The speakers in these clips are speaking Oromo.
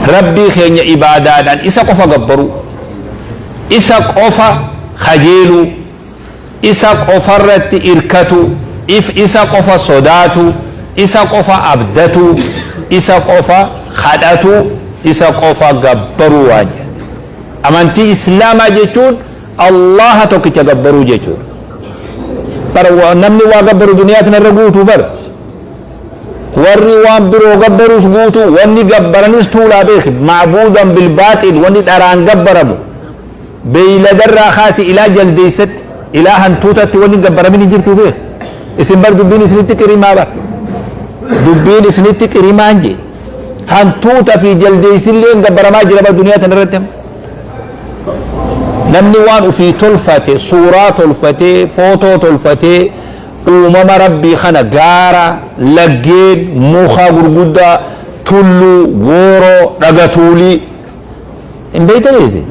Rabbii keenya ibaadaadhaan isa qofa gabbaruu, isa qofa kajeeluu, isa qofarratti irkatu, if isa qofa sodaatu, isa qofa abdatu, isa qofa kadhatu, isa qofa gabbaruu waan jedhu. Amantii Islaamaa jechuun Allaha tokkicha gabbaruu jechuudha. Bara namni waa gabbaru duniyaa tanarra guutuu bara. Warri waan biroo gabbaruuf guutuu, wanni gabbaranis tuulaa beeki. Macbuudan bilbaaxil, wanni dharaan gabbaramu. Beeyladarraa kaasi ilaa jaldeessatti, ilaa hantuutatti wanni hin gabbaramin hin jirtu beeki. Isin bar dubbiin isinitti qirimaa bar. Dubbiin isinitti qirimaan jee. Hantuuta fi jaldeessillee gabbaramaa jira bar duniyaa tanarratti. Namni waan ofii tolfate, suuraa tolfatee, footoo tolfatee, Uumama Rabbii kana gaara, laggeen, muka gurguddaa, tulluu, gooroo, dhaga tuulii. Hin beektanii isin?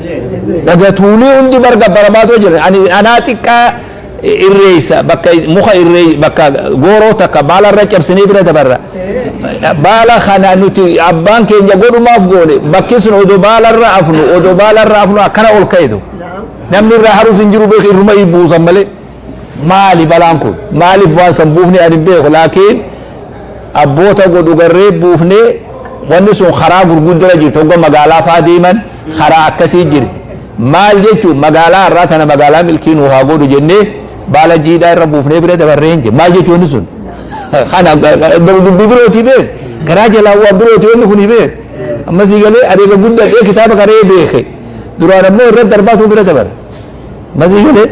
Dhaga tuulii hundi bar gabbaramaatoo jira. Ani anaa xiqqaa irreessa bakka muka irree bakka gooroo takka baala irra cabsinee bira dabarra. Baala kana nuti abbaan keenya godhumaaf goone bakki sun odoo baala irra afnu odoo baala irra afnu akkana ol ka'etu. Namni irraa harus hin jiru beeku irruma buusan malee. maali balaan kun maaliif waan san buufne ani hin beeku laakiin abboota godhu garree buufne wanni sun karaa gurguddara jirti hogga magaalaa faa deeman karaa akkasii jirti maal jechuun magaalaa irraa tana magaalaa milkii nuu haa godhu jennee baala jiidhaa irra buufnee bira dabarree hin maal jechuun wanni sun kana dubbii birootii beek garaa jalaa waan birootii wanni kun beek ammasii galee adeega guddaa kitaaba karee beeke duraan ammoo irra darbaatu bira dabarre Matii galee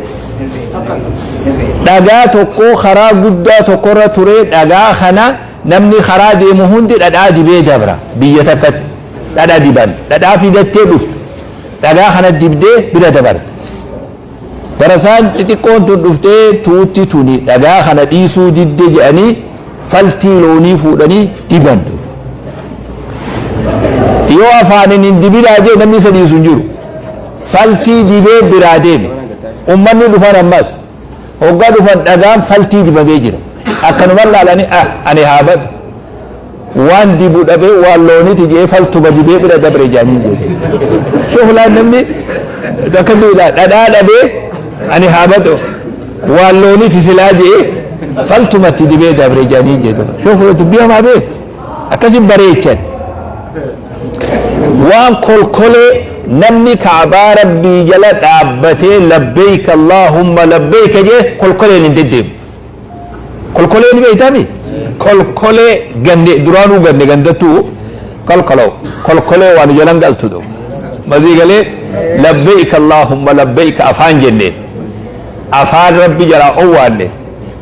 dhagaa tokko karaa guddaa tokkorra turee dhagaa kana namni karaa deemu hundi dhadhaa dibee dabra biyya takkatti dhadha diban dhadhaa fidattee dhuftu dhagaa kana dibdee bira dabarte barasaan xixiqqoon tun dhuftee tuutti tuni dhagaa kana dhiisuu didde jedhanii faltii loonii fuudhanii diban tun yoo afaanin hin dibinaa jee namni isa dhiisu hin jiru Faltii dibee biraa deeme. Ummanni dhufan ammas. Hoggaa dhufan dhagaan faltii dibamee jira. Akkanuman laalanii ah ani haa badu. Waan dibu dhabee waan looniti jee faltuma dibee bira dabre jaanii jedhe. Shoofulaan namni akka duudhaa dhadhaa dhabee ani haa badu. Waan looniti silaa jee faltumatti dibee dabre jaanii jedhe. Shoofula dubbii hamaa bee akkasi bareechan. Waan kolkolee namni Ka'baa Rabbii jala dhaabbatee labbeeyka Allaahumma labbeeyka jee kolkoleen hin deddeemu. Kolkolee ni beeytami? Kolkolee ganne duraanuu ganne gandattuu kolkoloo kolkolee waan jalan galtu dha. Mazii galee labbeeyka Allaahumma labbeeyka afaan jenneen afaan Rabbi jalaa owwaanne.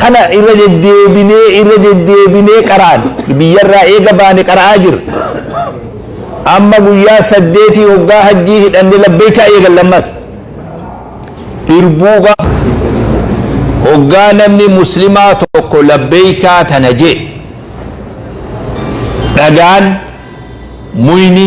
Kana irra deddeebinee irra deddeebinee qara'an. Biyyarraa eega baane qara'aa jirra. Amma guyyaa saddeetii hoggaa hajjii hidhanne labbeeykaa eegalle ammas. Irbuu gaafa hoggaa namni muslimaa tokko labbeeykaa tana je'e dhagaan, muyni,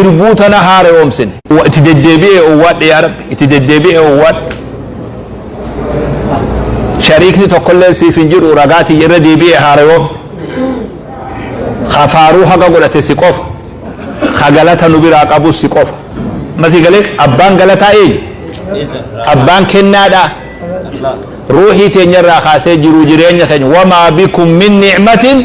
irbuu tana haareyoomsine itti deddeebi'ee owwaadhe yaa rabbi itti deddeebi'ee owwaadhe shariikni tokkollee siif hin jiru ragaatii irra deebi'ee haareyoomse kafaaruu haga godhate si qofa ka galata nu biraa qabus si qofa masi galee abbaan galataa eenyu abbaan kennaadha ruuhii teenyarraa kaasee jiru jireenya keenya wamaa bikum min ni'matin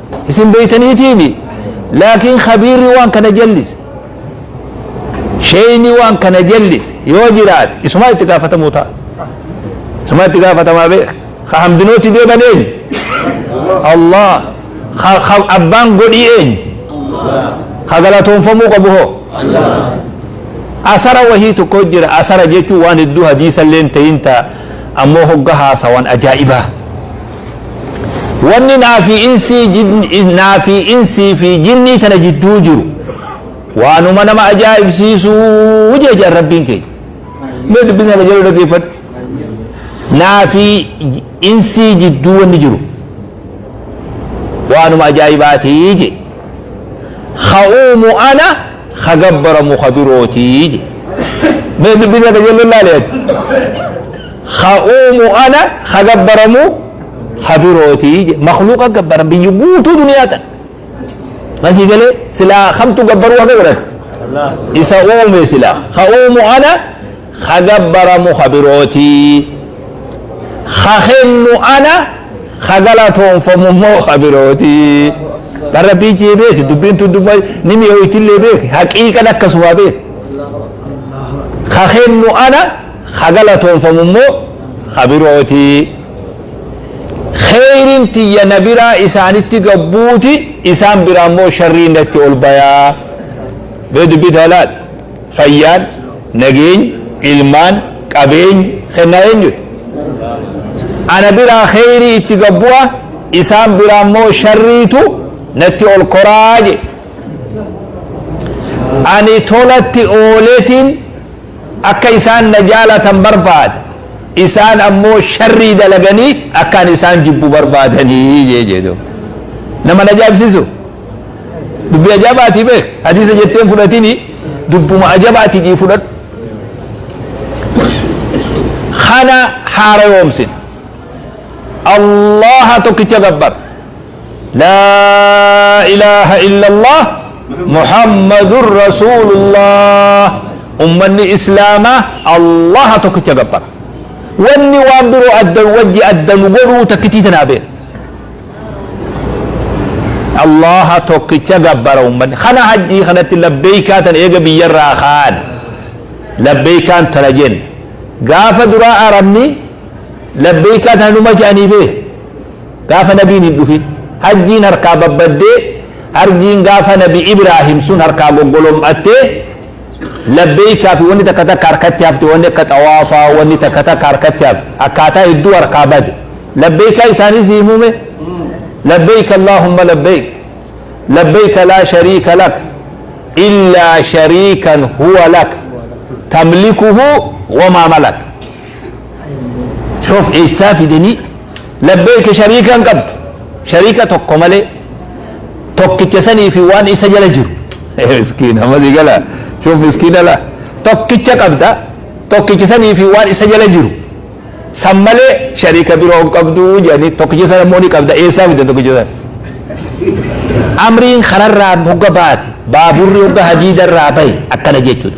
isin beeytaniitiimi laakiin khabiirri waan kana jallise sheeyni waan kana jallise yoo jiraate isumaa itti gaafatamuu ta'a isumaa itti gaafatamaa beek ka hamdinooti deeban eenyu allah ka ka abbaan godhii eenyu ka galatoonfamuu qabu hoo asara wahii tokko jira asara jechuun waan hedduu hadiisa illee ta'in ta'a ammoo hogga haasawan ajaa'ibaa wanni naa fi insii jin- naa fi insii fi jinnii tana jidduu jiru waanuma nama ajaa'ibsiisuu jee jaan rabbiin keenya mee dubbisni akka jedhu dhaggeeffadhu naa fi insii jidduu wanni jiru waanuma ajaa'ibaatii jee ka'uumu ana ka gabbaramu ka birootii jee mee dubbisni akka jedhu laaleeti Ka uumu ana, ka gabbaramu ka birooti. Makhluuqa gabbaran biyyi guutuu duniyaa tan. Kan sii galee silaa kamtu gabbaruu haqa godhata? Isa uume silaa. Ka uumu ana, ka gabbaramu ka birooti. Ka kennu ana, ka galatoonfamu immoo ka birooti. Kan Rabbii jee beeki dubbiin tun dubbii ni mi'ooytillee beeki haqiiqan akkasumaa beeki. Ka kennu ana, ha galatoonfamu immoo ha birooti. Kheyriin tiyya na biraa isaanitti gad buuti, isaan biraa immoo sharriin natti ol baya. Mee dubbii tana laal. Fayyaan, nageenyi, ilmaan, qabeenyi kennaa eenyuti? Ana biraa kheyrii itti gad bu'a, isaan biraa immoo sharriitu natti ol koraa jedhe. Ani tolatti ooletiin Akka isaan na jaalatan barbaada, isaan ammoo sharrii dalaganii akka ani isaan jibbu barbaadanii jee jee duuba. Nama na ajaa'ibsiisu. Dubbii ajaa'ibaati beek. Hadiisa jettee hin fudhatini dubbuma ajaa'ibaati jii fudhadhu. Kana haarayoomsin. Allaha tokkicha gabbar. Laa ilaaha illallah Muhammadun Rasuulullah Ummanni Islaamaa Allaha tokkicha gabbara. Wanni waan biroo adda wajji adda nu godhuu takkitii tanaa beena. Allaha tokkicha gabbara ummanni. Kana hajjii kanatti labbeeykaa tan eega biyyarraa kaan. Labbeeykaan tana jenna. Gaafa duraa arabni labbeeykaa tana numa jedhanii bee. Gaafa nabiin hin dhufin hajjiin harkaa babbaddee harjiin gaafa nabi Ibraahim sun harkaa goggolom'attee labbeeykaa fi wanni takka takka harkatti hafte wanni akka xawaafaa wanni takka takka harkatti hafte akkaataa hedduu harkaa bade labbeeykaa isaanii sii muume labbeeyk allaahumma labbeeyk labbeeyk laa shariika lak illaa shariikan huwa lak tamlikuhu wamaa malak Of eessaa fidanii labbeeka shariika hin qabdu. Shariika tokko malee tokkicha sanii fi waan isa jala jiru. Miskiina ammas gala shuf miskiina la tokkicha qabda tokkicha sanii fi waan isa jala jiru. San malee shariika biroo hin qabdu jedhanii tokkicha sana immoo ni qabda eessaa fidan tokkicha sana. Amriin kanarraa hogga baate baaburri hogga hadiidarraa bahe akkana jechuudha.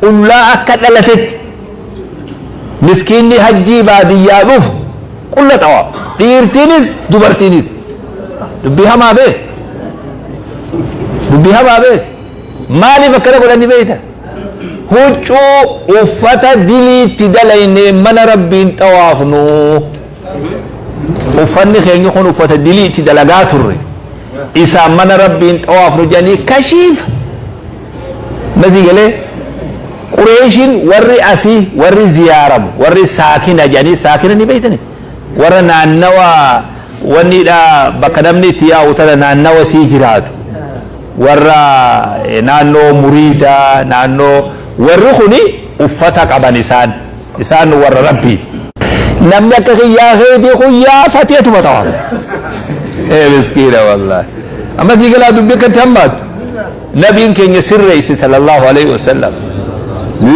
qullaa akka dhalatetti miskiinni hajjii baadiyyaa dhufu qulla xawaafa dhiirtiinis dubartiinis dubbii hamaa beek dubbii hamaa beek maaliif akkana godhanni beeyta huccuu uffata diliitti dalaynee mana rabbiin xawaafnu uffanni keenya kun uffata diliitti dalagaa turre isaan mana rabbiin xawaafnu jedhanii kashiif Masii galee Qureeshiin warri asii warri ziyaaramu warri saakina jedhanii saakina ni beektani warra naannawa wanniidha bakka namni itti yaa'u tana naannawa sii jiraatu warra eh, naannoo muriida naannoo warri kuni uffata qaban isaan isaan warra rabbiiti. Namni akka kiyyaa keetii kun yaafatee tuma ta'a. Eh miskiina wallaahi. Amma sii galaa dubbii akkatti hammaatu. Nabiin keenya sirreeyse sallallaahu aleeyhi wasallam,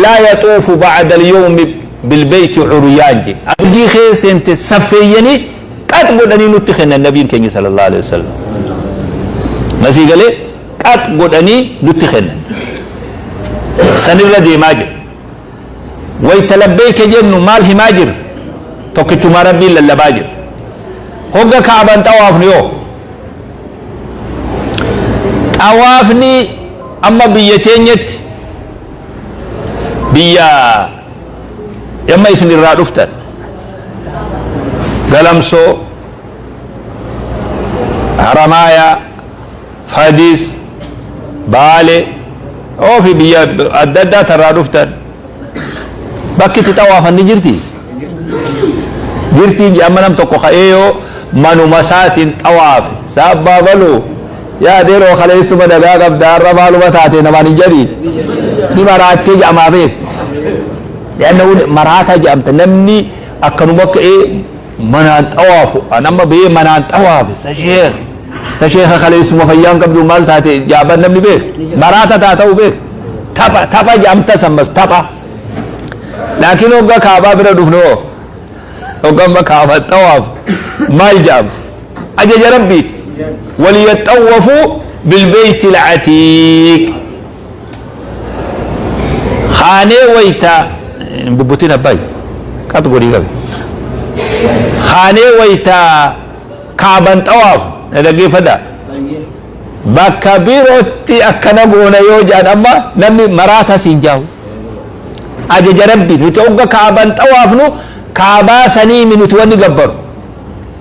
Laa yaxuufu ba'adal yawmi bil beeyti curyaan je. Hajjii kee seente saffeeyyanii qax godhanii nutti kennan Nabiin keenya sallallaahu aleeyhi wasallam. Ma sii galee? Qax godhanii nutti kennan. Sanirra deemaa je. Wayta labbeeyka jennu maal himaa jirra? Tokkichummaa Rabbii lallabaa jirra. Hogga Ka'aban xawaafnu hoo? Xawaafni amma biyya teenyatti biyya amma isin irraa dhuftan galamsoo haramaayaa Fadis, Baale, oofi biyya adda addaa tarraa dhuftan bakki itti xawaafan ni jirti? Jirti hin amma nam tokko ka'ee yoo manuma isaatiin xawaafe saabbaa baluu yaa deeroo kaleessuma nagaa qabda har'a maaluma taate namaan hin jedhiin ni maraattee jedhamaa beeku. Yaanna maraataa jedhamta namni akkanuma ka'ee manaan xawaafu an amma bee manaan xawaafe sa sheekh sa sheekha kaleessuma fayyaan qabdu maal taate jaaban namni beek maraata taa ta'u beek tapha tapha jaamta sammas tapha laakiin hogga kaabaa bira dhufne hoo hogga amma kaabaa xawaafu maal jaama ajaja rabbiiti waliyaxawwafu bilbeeyti lacatiiq kaanee waytaa hin bubbutin abbaay qat godhii qabe kaanee waytaa kaaban xawaafu na dhaggeeffadha bakka birootti akkana goona yoo jedhan amma namni maraata siin jaahu ajaja rabbi nuti ogga kaaban xawaafnu kaabaa saniimi nuti wanni gabbaru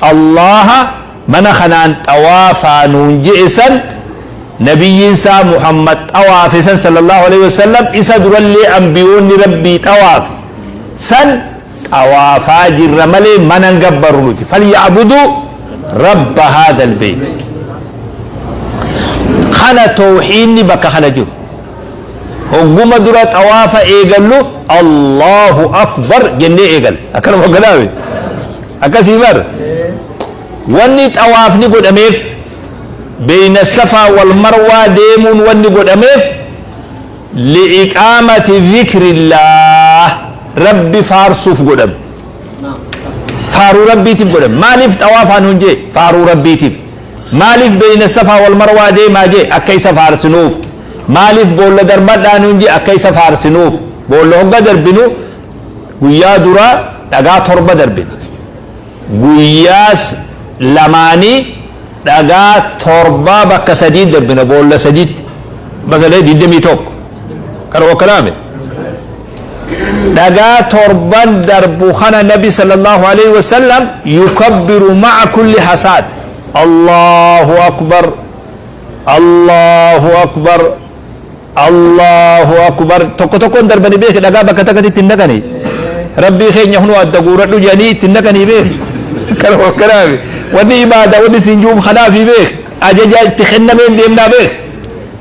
Allaaha mana kanaan xawaafaa nuun je'e san Nabiyyiin isaa Muhammad xawaafe san sallallaahu aleyhi wa sallam isa durallee anbiyoonni Rabbii xawaafe san xawaafaa jirra malee mana hin gabbarru nuti falya'buduu rabba haadal beyti kana towhiinni bakka kana jiru hogguma dura xawaafa eegallu Allahu akbar jennee eegal akkanuma hogganaawe akkasii bar wanni xawaafni godhameef beeyna safaa wal marwaa deemuun wanni godhameef li'iqaamati zikrillaah rabbi faarsuuf godhame faaruu rabbiitiif godhame maaliif xawaafaan hunjee faaruu rabbiitiif Maaliif beyna safaa wal marwaa deemaa je akka isa faarsinuuf. Maaliif boolla darbadhaa nuun je akka isa faarsinuuf. Boolla hogga darbinu guyyaa duraa dhagaa torba darbina. Guyyaa lamaanii dhagaa torbaa bakka sadii darbina boolla sadiitti. Bakka sadii 21. Kana wakkalaame. dhagaa torban darbu kana nabi sallallahu alaihi wasallam yukabbiru ma'a kulli hasaad allahu akbar allahu akbar allahu akbar tokko tokkoon darbani beeke dhagaa bakka takkatti ittiin dhaqani rabbii keenya hunuu adda guuradhu jedhanii ittiin dhaqanii beeke kana wakkanaaf wanni ibaada wanni siin juuf kanaafi beeke ajaja itti kennameen deemnaa beeke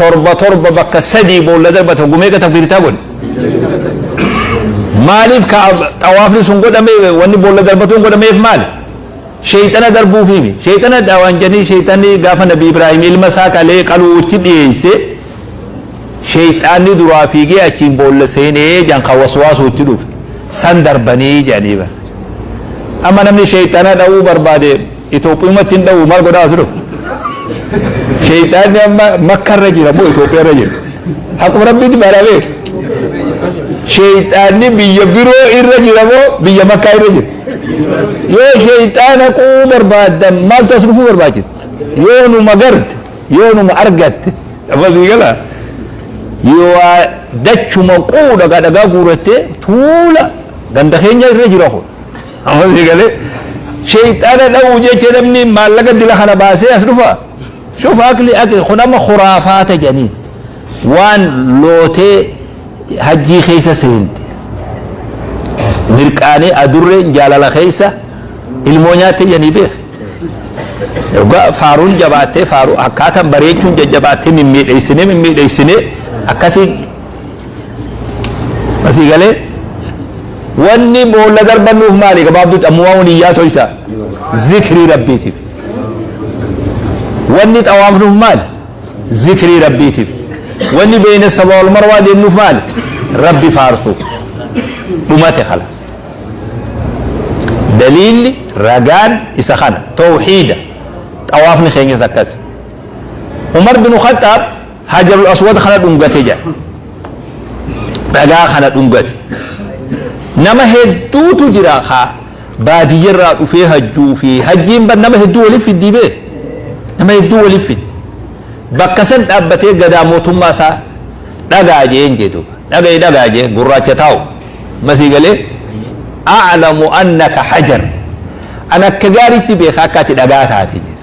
torba torba bakka sadii boolla darbata gumeeqa takbiirtaa godhe maaliif ka xawaafni sun godhame wanni boolla darbatuun godhameef maali sheeyxana darbuufiimi sheeyxana daawaan jedhanii sheeyxanni gaafa nabi ibraahim ilma isaa qalee qaluutti dhiyeesse sheeyxaanni duraa fiigee achiin boolla seenee jan ka waswaasuutti dhufe san darbanii jedhanii bara amma namni sheeyxana dha'uu barbaade Itoophiyumatti hin dha'u maal godhaa asirra? Sheeyxaanni amma makka irra jira moo Itoophiyaa irra jira? Akkuma rabbiitti baaraa beeku. Sheeyxaanni biyya biroo irra jira moo biyya makkaa irra jira? Yoo sheeyxaana quu barbaaddan maaltu as dhufuu barbaachisa? Yoo numa garte, yoo numa argatte, dhabasii galaa. Yoo dachuma quudha dhagaa guurattee tuula ganda keenya irra jira kun. Amasi gale sheyxaana dha'uu jecha namni maallaqa dila kana baasee as dhufa. Shuf akli akli kun amma khuraafaata jedhaniin waan lootee hajjii keessa seente. Mirqaanee adurreen jaalala keessa ilmoo nyaattee jedhanii beeka. Dhugaa faaruun jabaattee faaruu akkaataan bareechuun jajjabaattee mimmiidheessinee mimmiidheessinee akkasii Asii galee wanni boolla darbannuuf maali gabaabduutti ammumaa wani iyyaa tolcha zikrii rabbiitiif. Wanni xawaafnuuf maali zikrii rabbiitiif. Wanni beeyna saba wal marwaa deemnuuf maali rabbi faarsuuf. Dhumate kala. Daliilli ragaan isa kana tawxiida xawaafni keenyas akkasi. Umar bin Khaxxaab Hajarul Aswad kana dhungate jedha. Dhagaa kana dhungate. Nama hedduutu jira kaa baadiyyarraa dhufee hajjuu fi hajjiin bar nama hedduu waliif fiddii bee. Nama hedduu waliif fiddi. Bakka san dhaabbatee gadaa mootummaa isaa dhagaa jeen jedhu. Dhaga'i dhagaa jee gurraacha taa'u. Masii galee a'lamu annaka hajar. An akka gaariitti beeka akka ati dhagaa taate jedhe.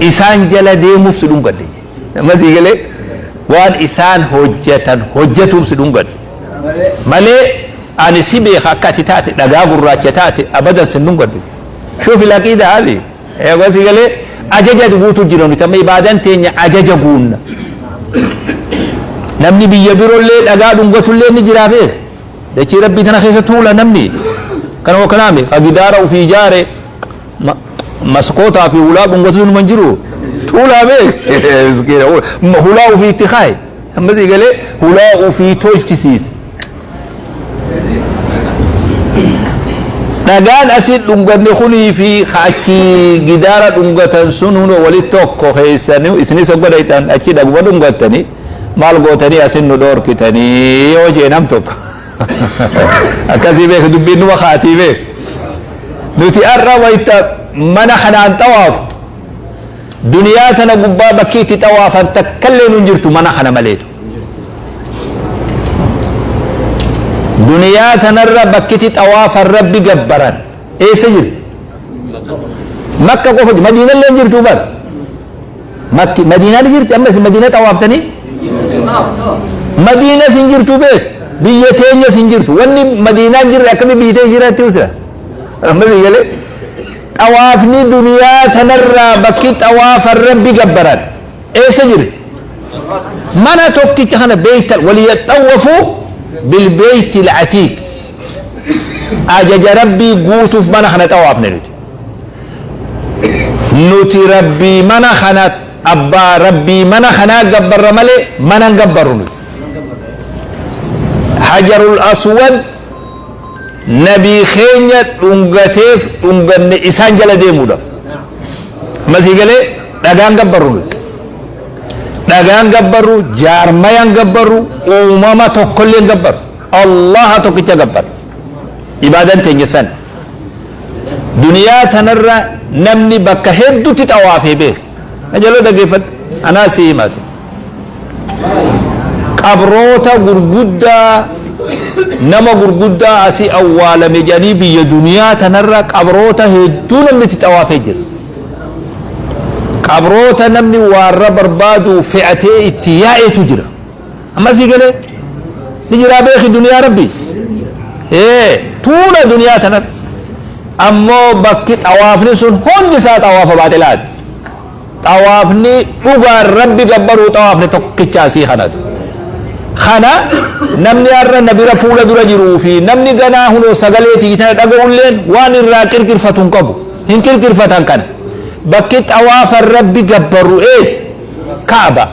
isaan jala deemuuf si dhungadhe nama sii galee waan isaan hojjetan hojjetuuf si dhungadhe malee ani si beeka akka ati taate dhagaa gurraacha taate abadan si dhungadhe shuufi laqii daabi nama sii galee ajaja guutu jira nuti amma ibaadan teenya ajaja guunna namni biyya birollee dhagaa dhungatullee ni jiraafee dachii rabbii tana keessa tuula namni kanuma kanaame ka gidaara ufii ijaare maskootaa fi hulaa dhungatu numa hin jiru tuulaa bee miskiina hulaa ofii itti kaaye amma si galee hulaa ofii tolchisiise dhagaan asii dhunganne kunii fi achi gidaara dhungatan sun hundo walitti tokko keessanii isinis hogga dhayxan achi dhaguma dhungattanii maal gootanii asin nu dhoorkitanii yoo jee nam tokko akkasii beeka dubbiin numa kaatii beeka nuti har'a wayita mana kanaan xawaaftu duniyaa tana gubbaa bakkii itti xawaafan takkallee nun jirtu mana kana maleetu duniyaa tanarra bakkitti xawaafan rabbi gabbaran eessa jirti makka qofa madiinallee jirtu bara Makki madiinaa ni jirti amma isin madiina xawaaftanii madiina isin jirtu beek biyya teenya isin jirtu wanni madiinaa jirre akkami biyya teenya jiraatti uta amma isin galee xawaafni duniyaa tanarraa bakki xawaafan rabbi gabbaran eessa jirti mana tokkicha kana beeytan waliyaxawwafu bilbeeyti latiik ajaja rabbii guutuuf mana kana xawaafne nuti nuti rabbii mana kana abbaa rabbii mana kanaa gabbarra malee mana hin gabbarru nuti hajarul aswad nabii keenya dhungateef dhunganne isaan jala deemuudha masii galee dhagaan gabbarru nuti dhagaan gabbarru jaarmayaan gabbarru uumama tokkollee hin gabbarru Allaha tokkicha gabbarra. Ibaadan teenya san. Duniyaa tanarra namni bakka hedduutti xawaafee beeku. Na jaloo dhageeffadhu. Anaa si himatu. Qabroota gurguddaa nama gurguddaa asii awwaalame jedhanii biyya duniyaa tanarra qabroota hedduu namni itti xawaafee jira. Qabroota namni waarra barbaadu fe'atee itti yaa'etu jira. amma sii galee ni jiraa beeki duniyaa rabbi ee tuula duniyaa tanat ammoo bakki xawaafni sun hundi isaa xawaafa baaxilaati xawaafni dhugaan rabbi gabbaruu xawaafni tokkichaa sii kanatu kana namni har'a na bira fuula dura jiruu fi namni ganaa hunoo sagalee tiitana dhaga'ulleen waan irraa qirqirfatu hin qabu hin qirqirfatan kana bakki xawaafa rabbi gabbaru ees kaaba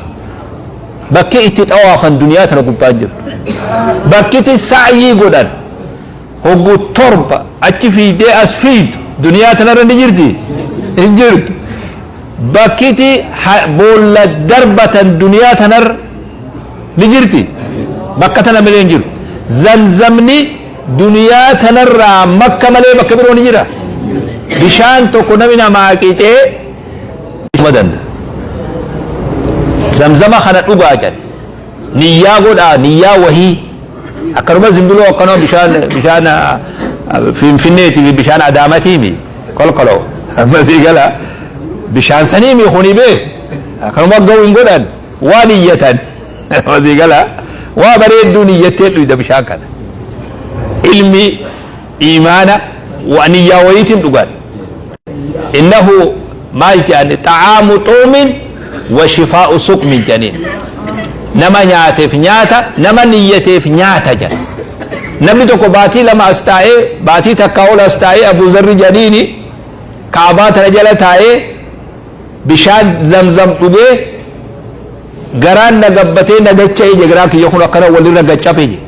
Bakki itti xawaafan duniyaa tana gubbaa hin jirtu. Bakki itti sa'yii godhan hoggu torba achi fiiydee as fiiydu duniyaa tanarra ni jirti? Hin jirtu. Bakki itti boolla darbatan duniyaa tanarra ni jirti? Bakka tana malee hin jiru. Zamzamni duniyaa tanarraa makka malee bakka biroo ni jira? Bishaan tokko nami namaa qixee madan zamzama kana dhugaa jedhan niyyaa godhaa niyyaa wahii akkanuma zimbiloo akkanuma bishaan bishaan ah, finfinneeti fi bishaan adaamatiimi kolkoloo ammasii gala bishaan saniimi kuni bee akkanuma ga'u hin godhan waa niyyatan ammasii gala waa bareedduu niyyattee dhuyda bishaan kana ilmi iimaana wa niyyaa wayiitiin dhugan innahu maal jedhan xa'aamu xuumin wa shifaa'u sukmin jedhaniin nama nyaateef nyaata nama niyyateef nyaata jedhan namni tokko baatii lama as taa'ee baatii takkaa ol as taa'ee abuu zarri jedhaniini kaabaa tana jala taa'ee bishaan zamzam dhugee garaan na gabbatee na dacha'e je garaan kiyya kun akkana walirra gaccape je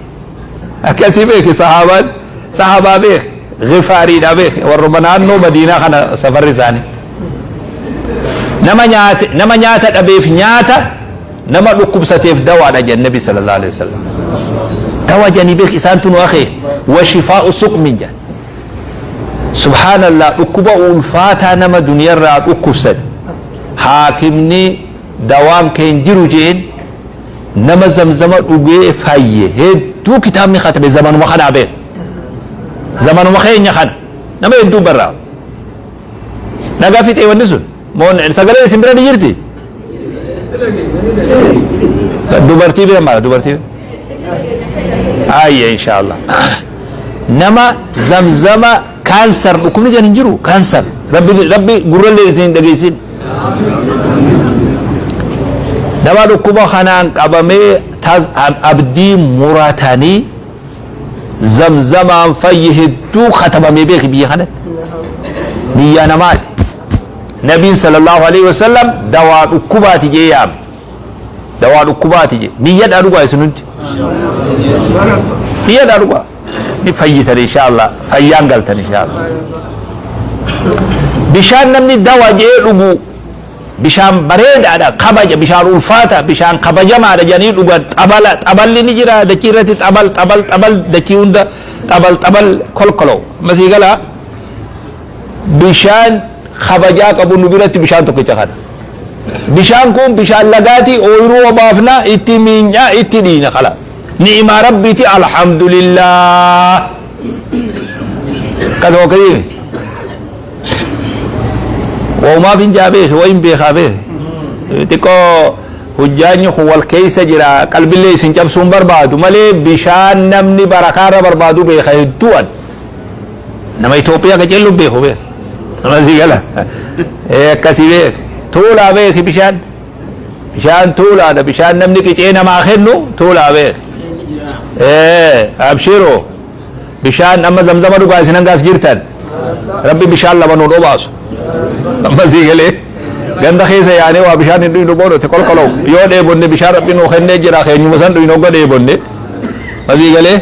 akkasii beeke sahaabaan sahaabaa beeke gifaariidha beeke warruma naannoo madiinaa kana safarri isaanii nama nyaate nama nyaata dhabeef nyaata nama dhukkubsateef dawaadha jedhe nabi sallallahu alaihi wasallam dawa jani beek isaan tunu akhe wa shifaa'u suqmin jedhe Subhaanallah dhukkuba ulfaataa nama duniyarraa dhukkubsate haakimni dawaan kee hin jiru je'een nama zamzama dhugee fayye hedduu kitaabni katabe zamanuma kanaa beek zamanuma keenya kana nama hedduu barraa dhagaa fixee wanni sun Moon sagalee isin bira ni jirti? Dubartii bira maala dubartii? Ayya inshaallah. Nama zamzama kaansar dhukkubni jedhan hin jiru kaansar rabbi rabbi gurrallee isin hin dhageessin. Nama dhukkuba kanaan qabamee tas- ab- abdii muratanii zamzamaan fayyi hedduu katabamee beeki biyya kanatti. Biyya namaati. Nabiin sallallahu aleyhi wasallam dawaa dhukkubaati jee yaame. Dawaa dhukkubaati jee. Niyyadhaa dhugaa isin hundi. Niyyadhaa dhugaa. Ni fayyitan inshaallah. Fayyaan galtan inshaallah. Bishaan namni dawa jee dhugu bishaan bareedaadha kabaja bishaan ulfaata bishaan kabajamaadha jedhanii dhugan xabala xaballi ni jira dachii irratti xabal xabal xabal dachii hunda xabal xabal kolkolo masii galaa. bishaan kabajaa qabu nu biratti bishaan tokkicha kana. Bishaan kun bishaan lagaati ooyiruu obaafna itti miinyaa itti dhiina kala. Ni'imaa rabbiiti alhamdulillah. Kan hokkadiin. Waumaaf hin jaabees wayin beekaa bees. Xiqqoo hojjaanyi kun wal keessa jira qalbillee isin cabsuun barbaadu malee bishaan namni barakaarra barbaadu beeka hedduu'an. Nama Itoophiyaa qacellu beeku beeku. Nama si gala. Ee akkasii beeku. Tuulaa beeki bishaan. Bishaan tuulaadha. Bishaan namni qicee namaa kennu tuulaa beeki. Ee abshiroo. Bishaan amma zamzama dhugaa isin hangaas jirtan. Rabbi bishaan lama nuun obaasu. Amma sii galee. Ganda keessa yaanee waa bishaan hin dhuynu boodootti kolkoloo. Yoo dheebonne bishaan rabbi nuu kennee jira keenyuma san dhuynu hogga dheebonne. Masii galee.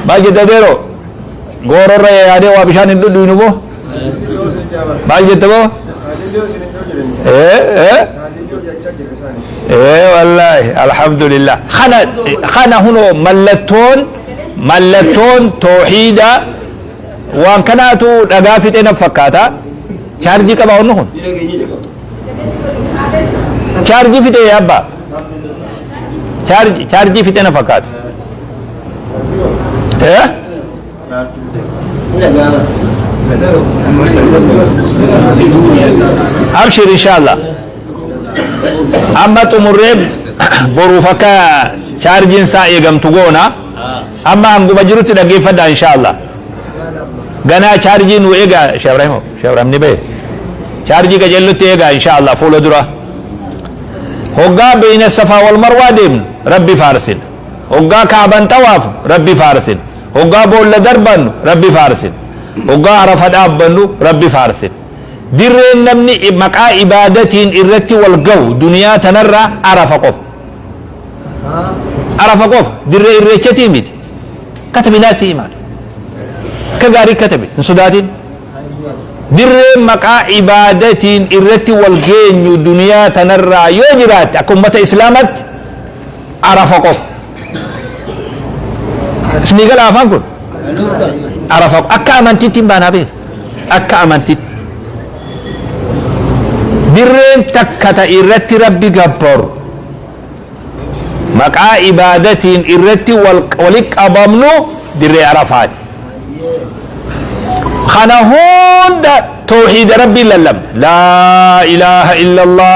maal jetta deeroo gooroo irra yaadee waa bishaan hin dhudhuinu moo maal jetta moo ee ee ee wallaahi alhamdulillah kana kana hunoo mallattoon mallattoon tooxiida waan kanaatu dhagaa fixee na fakkaata chaarjii qaba hunni kun Chaarjii fixee yaabba. Chaarjii chaarjii fixee na fakkaata. Eh? Abshir inshallah. Amma xumurree boruuf akka chaarjiin isaa eegamtu goona. Amma hanguma jirutti dhaggeeffadhaa inshaallah. Ganaa chaarjii nuu egaa Sheekh Ibrahim Sheekh Ibrahim ni bahe. Chaarjii qajeellutti egaa inshaallah fuula dura. Hoggaa beeyna safaa wal marwaa deemnu rabbi faarsin. Hoggaa kaaban xawaaf rabbi faarsin. Hoggaa boolla darbannu rabbi faarsin. Hoggaa arafa dhaabbannu rabbi faarsin. Dirreen namni maqaa ibaadatiin irratti wal gahu duniyaa tanarraa arafa qofa. arafa qofa dirree irreechatii miti katabinaa si imaan akka gaarii katabe hin sodaatin dirree maqaa ibaadatiin irratti wal geenyu duniyaa tanarraa yoo jiraatte akka ummata islaamatti arafa qofa isinii gala afaan kun arafa qofa akka amantiitti hin baanaa beeku akka amantitti dirreen takka ta irratti rabbi gabbaru maqaa ibaadatiin irratti wali qabamnu dirree arafaati kana hunda tooxiida rabbiin lallabna laa ilaaha illa allah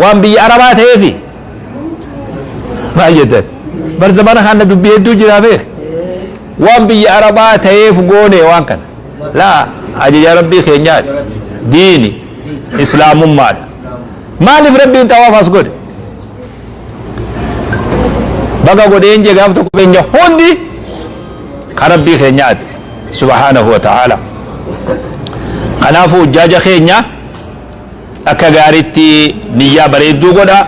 waan biyya arabaa ta'eefi maal jettan bar zamana kana dubbii hedduu jira beek waan biyya arabaa ta'eef goone waan kana laa ajaja rabbii keenyaati diini islaamummaadha maaliif rabbiin xawaaf as godhe baga godheen jee gaaf tokko keenya hundi ka rabbii keenyaati subhaanahu wa ta'aala kanaafuu hujjaaja keenya Akka gaaritti niyyaa bareedduu godha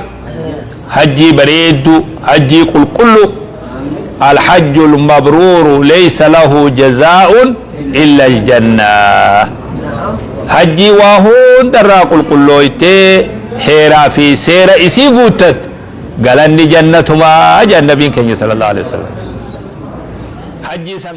hajjii bareeddu hajjii qulqullu Alhajjul mabruuru leysa lahu jazaa'un illal jannah hajjii waa hunda irraa qulqullooytee heeraa fi seera isii guuttatte galanni jannatumaa jedhan nabiin keenya sallallahu aleyhi wasallam hajjii san